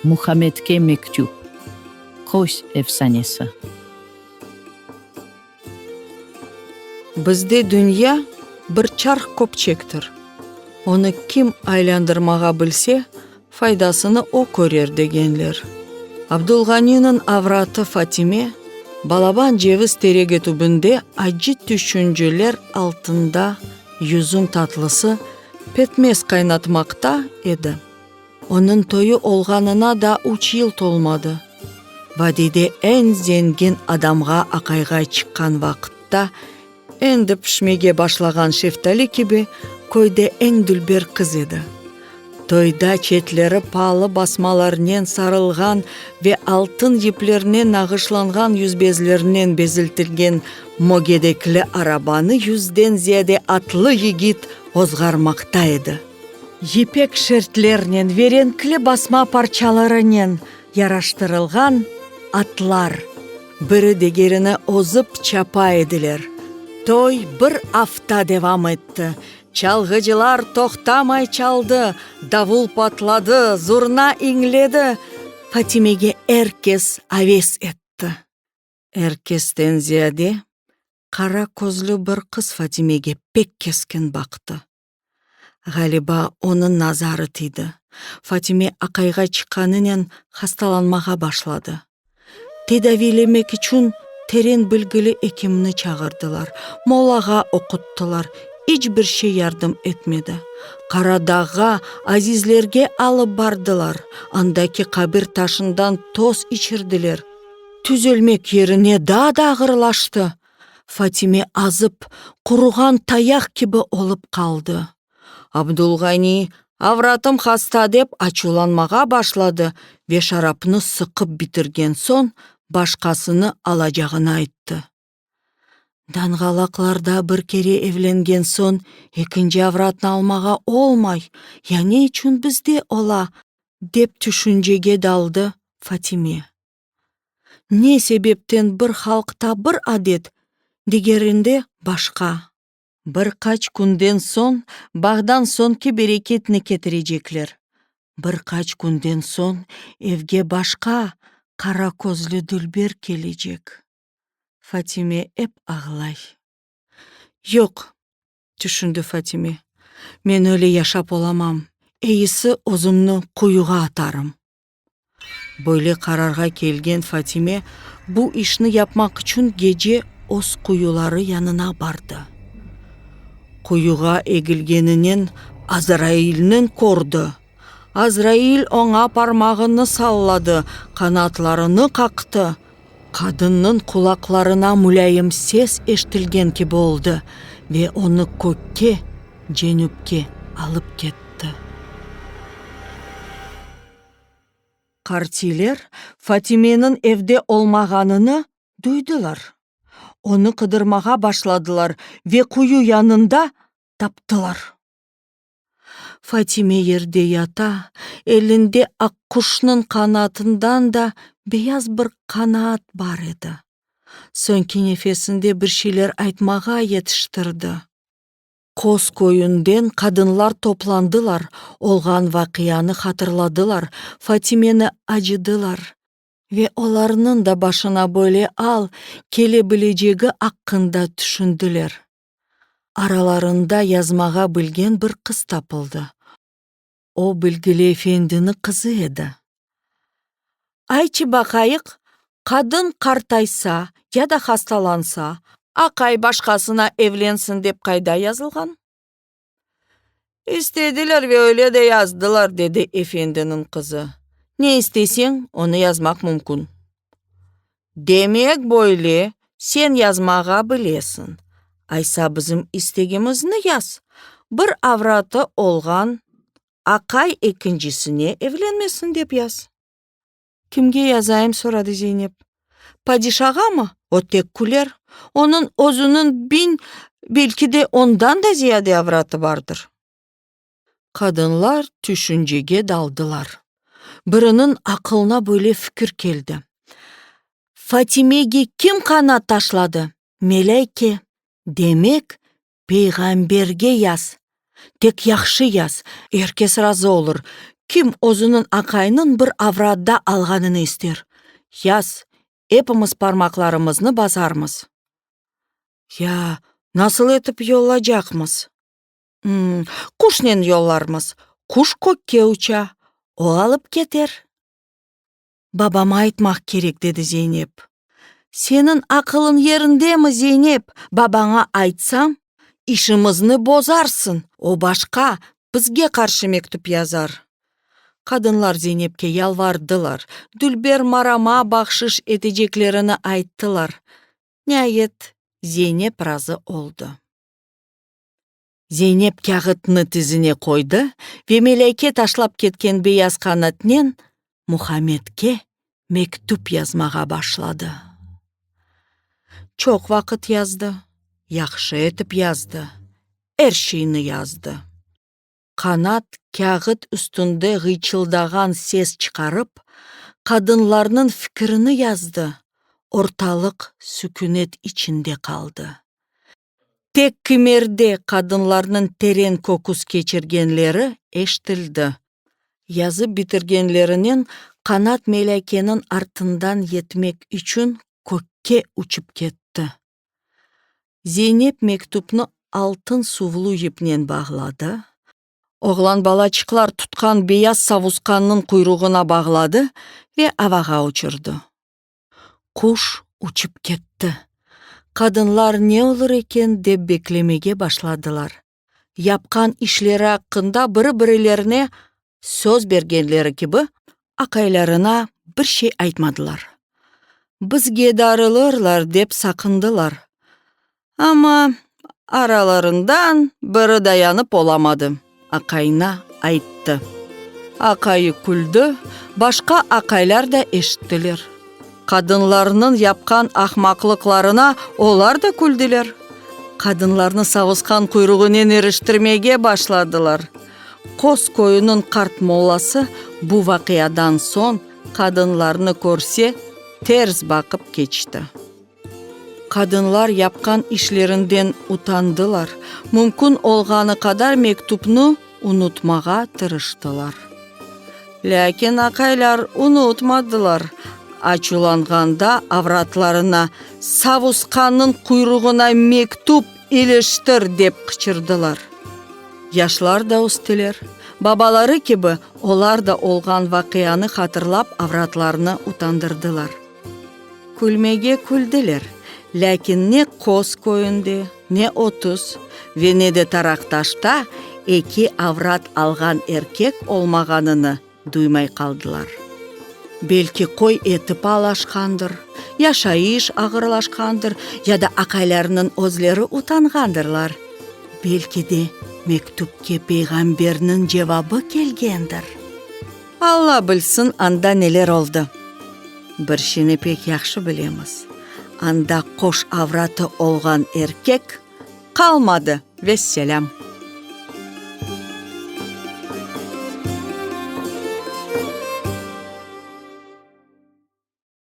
Muhamedke mektüp. Qos efsanesi. Bizde dünya bir çarh köpçektir, onı kim aylandırmağa bilse, Faydasını o körer degenler. Abdulğaniniñ avratı Fatime, balaban ceviz teregi tübünde acı tüşünceler altında yüzüm tatlısı, petmez qaynatmaqta edi. Onıñ toyu olğanına da üç yıl tolmadı. Vadiyde eñ zengin adamğa aqayğa çıqqan vaqıtta, Endi pişmege başlağan şeftali kibi köyde eñ dülber qız edi. Toyda çetleri palı basmalarnen sarılğan ve altın yiplernen nağışlanğan yüzbezlernen beziltilgen mogedekli arabanı yüzden ziyade atlı yigit ozğarmaqta edi. Yipek şertlernen ve renkli basma parçalarınen yaraştırılğan atlar. Biri digerini ozıp çapa ediler. Toy bir afta devam etti. Çalğıcılar toqtamay çaldı, davul patladı, zurna iñledi. Fatimege er kes aves etti. Er kesten ziyade, qara közlü bir qız Fatimege pek keskin baqtı. Ğaliba, onıñ nazarı tiydi. Fatime aqayğa çıqqanınen hastalanmağa başladı. Tedaviylemek içün teren bilgili ekimni çağırdılar, mollağa oquttılar, iç bir şey yardım etmedi. Qaradağğa, azizlerge alıp bardılar, andaki qabir taşından toz içirdiler. Tüzelmek yerine daa da ağırlaştı. Fatime azıp, quruğan tayaq kibi olıp qaldı. Abdulğani, avratım hasta, dep açuvlanmağa başladı ve şarapnı sıqıp bitirgen soñ başqasını alacağını ayttı. Danğalaqlarda bir kere evlengen soñ ekinci avratnı almağa olmay, ya ne içün bizde ola? dep tüşüncege daldı Fatime. Ne sebepten bir halqta bir adet, digerinde başqa? Bir qaç künden soñ bağdan soñki bereketni ketirecekler. Bir qaç künden soñ evge başqa qara közlü dülber kelecek. Fatime ep ağlay. Yoq, tüşündi Fatime, men öyle yaşap olamam, eyisi özümni quyuğa atarım. Böyle qararğa kelgen Fatime bu işni yapmaq içün gece öz quyuları yanına bardı. Quyuğa egilgeninen Azrailniñ kördi. Azrail oña parmağını salladı, qanatlarını qaqtı. Qadınnıñ qulaqlarına mulâyim ses eşitilgen kibi oldı ve onı kökke, cenüpke, alıp ketti. Qartiler Fatimeniñ evde olmağanını duydılar. Onı qıdırmağa başladılar ve quyu yanında taptılar. Fatime yerde yata, elinde aqquşnıñ qanatından da beyaz bir qanaat bar edi. Soñki nefesinde bir şeyler aytmağa yetiştirdi. Qoz köyünden qadınlar toplandılar, olğan vaqianı hatırladılar, Fatimeni acıdılar. Ve olarnıñ da başına böyle al kele bilecegi aqqında tüşündiler. Aralarında yazmağa bilgen bir qız tapıldı. O, bilgili efendini qızı edi. Ayçı baqayıq, qadın qartaysa ya da hastalansa, aqay başqasına evlensin dep qayda yazılğan? İstediler ve öyle de yazdılar, dedi efendiniñ qızı. Ne isteseñ, onı yazmaq mümkün. Demek, böyle, sen yazmağa bilesiñ. Aysa bizim istegimizni yaz, bir avratı olğan aqay ekincisine evlenmesin dep yaz. Kimge yazayım? soradı Zeynep. Padişağamı? O tek küler. Onıñ özüniñ biñ, belki de, ondan da ziyade avratı bardır. Qadınlar tüşüncege daldılar. Biriniñ aqılına böyle fikir keldi, Fatimege kim qanaat taşladı? Melâyke. Demek, Peyğamberge yaz, tek yahşı yaz, er kes razı olur, kim özüniñ aqayınıñ bir avradda alğanını ister, yaz, epimiz parmaqlarımıznı basarmız. Ya, nasıl etip yollacaqmız? M, quşnen yollarmız, quş kökke uça, o alıp keter. babama aytmaq kerek, dedi Zeynep. Seniñ aqılıñ yerindemi, Zeynep? Babaña aytsam, işimizni bozarsıñ, o başqa, bizge qarşı mektüp yazar. Qadınlar Zeynepke yalvardılar, dülber Marama bahşış eteceklerini ayttılar. Niayet, Zeynep razı oldı. Zeynep kâğıtnı tizine qoydı ve Melâyke taşlap ketken beyaz qanatnen Muhammedke mektüp yazmağa başladı. Çoq vaqıt yazdı, yahşı etip yazdı, er şeyni yazdı. Qanat kâğıt üstünde ğıyçıldağan ses çıqarıp, qadınlarnıñ fikirini yazdı, ortalıq sükünet içinde qaldı. Tek kimerde qadınlarnıñ teren köküs keçirgenleri eştildi. Yazıp bitirgenlerinen qanat melâkeniñ artından yetmek içün kökke uçıp ketti. Zeynep mektüpni altın suvlu yipnen bağladı. Oğlan balaçıqlar tutqan beyaz savusqannıñ quyruğına bağladı ve avağa uçurdı. Quş uçıp ketti. Qadınlar ne olur eken dep beklemege başladılar. Yapqan işleri aqqında biri-birilerine söz bergenleri kibi, aqaylarına bir şey aytmadılar. Bizge darılırlar dep saqındılar. Amma aralarından biri dayanıp olamadı, aqayına ayttı. Aqayı küldi, başqa aqaylar da eşittiler. Qadınlarnıñ yapqan ahmaqlıqlarına olar da küldiler. Qadınlarnı savusqan quyruğınen iriştirmege başladılar. Qos köyüniñ qart mollası bu vaqiadan soñ qadınlarnı körse, ters baqıp keçti. Qadınlar yapqan işlerinden utandılar, mümkün olğanı qadar mektüpni unutmağa tırıştılar. Lâkin aqaylar unutmadılar, açuvlanğanda avratlarına, Savusqannıñ quyruğına mektüp iliştir! dep qıçırdılar. Yaşlar da östüler, babaları kibi, olar da olğan vaqianı hatırlap avratlarını utandırdılar. Külmege küldiler, lâkin ne Qoz köyünde, ne Otuz ve ne de Taraqtaşta eki avrat alğan erkek olmağanını duymay qaldılar. Belki qoy eti paalaşqandır, yaşayış ağırlaşqandır ya da aqaylarnıñ özleri utanğandırlar, belki de mektüpke peyğamberniñ cevabı kelgendir? Alla bilsin, anda neler oldı. Bir şeyni pek yahşı bilemiz, anda qoş avratı olğan erkek qalmadı. Vesselâm.